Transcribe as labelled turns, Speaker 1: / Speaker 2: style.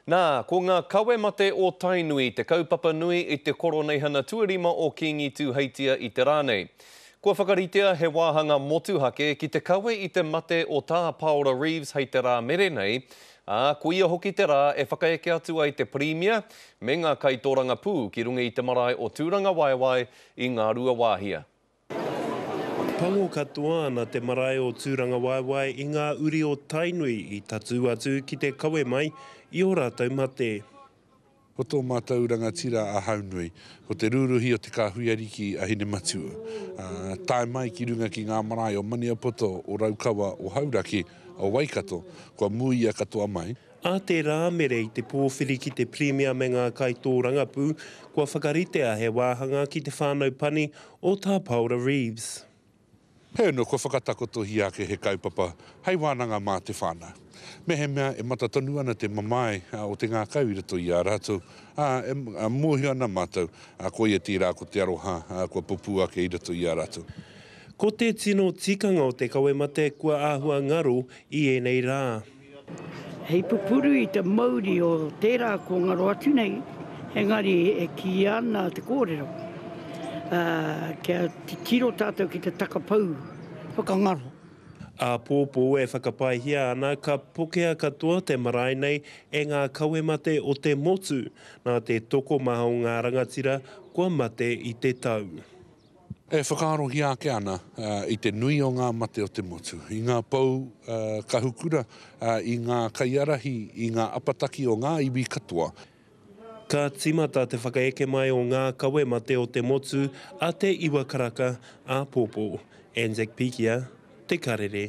Speaker 1: Nā, ko ngā kawe mate o Tainui te kaupapa nui i te Koroneihana Tuarima o Kīngi Tūheitia i te rā nei. Kua whakaritea he wāhanga motuhake ki te kawe i te mate o Tā Paora Reeves hei te rā mere nei, ā, ko ia hoki te rā e whakaeke atu ai te Pirimia me ngā kaitōrangapū ki runga i te marae o Tūrangawaewae i Ngāruawāhia.
Speaker 2: Pango katoa ana te marae o Tūrangawaewae i ngā uri o Tainui i tatū atu ki te kawe mai i ō rātou mate. Ko tō
Speaker 3: mātou rangatira a Haunui, ko te rūruhi o te kāhui ariki a Hinematua. Tae mai ki runga ki ngā marae o Maniapoto, o Raukawa, o Hauraki, o Waikato, kua mūia katoa mai, A te Rāmere
Speaker 2: i te pōwhiri ki te Pirimia me ngā kaitōrangapū, kua whakaritea he wāhanga ki te whānau pani o Tā Paora Reeves. Heoi
Speaker 3: kua whakatakotohia ake he kaupapa hei wānanga mā te whānau. Mehemea e mata tonu ana te mamae o te ngākau i roto i a rātou, ā, e mōhio ana mātou, koia tērā ko te aroha kua pupū ake i roto i a rātou. Ko te
Speaker 2: tino tikanga o te kawe mate kua āhua ngaro i ēnei rā. Hei
Speaker 4: pupuru i te mauri o tērā kua ngaro atu nei, engari e kīia ana te kōrero, ā, kia titiro tātou ki te takapau whakangaro.
Speaker 2: Āpōpō e whakapaehia ana ka pokea katoa te marae nei e ngā kawe mate o te motu, nā te tokomaha o ngā rangatira kua mate i te tau. E
Speaker 3: whakaarohia ake ana i te nui o ngā mate o te motu, i ngā pou kahukura, i ngā kaiarahi, i ngā apataki o ngā iwi katoa. Ka
Speaker 2: tīmata te whakaeke mai o ngā kawe mate o te motu a Te Iwa Karaka āpōpō, Anzac pikia, Te Karere.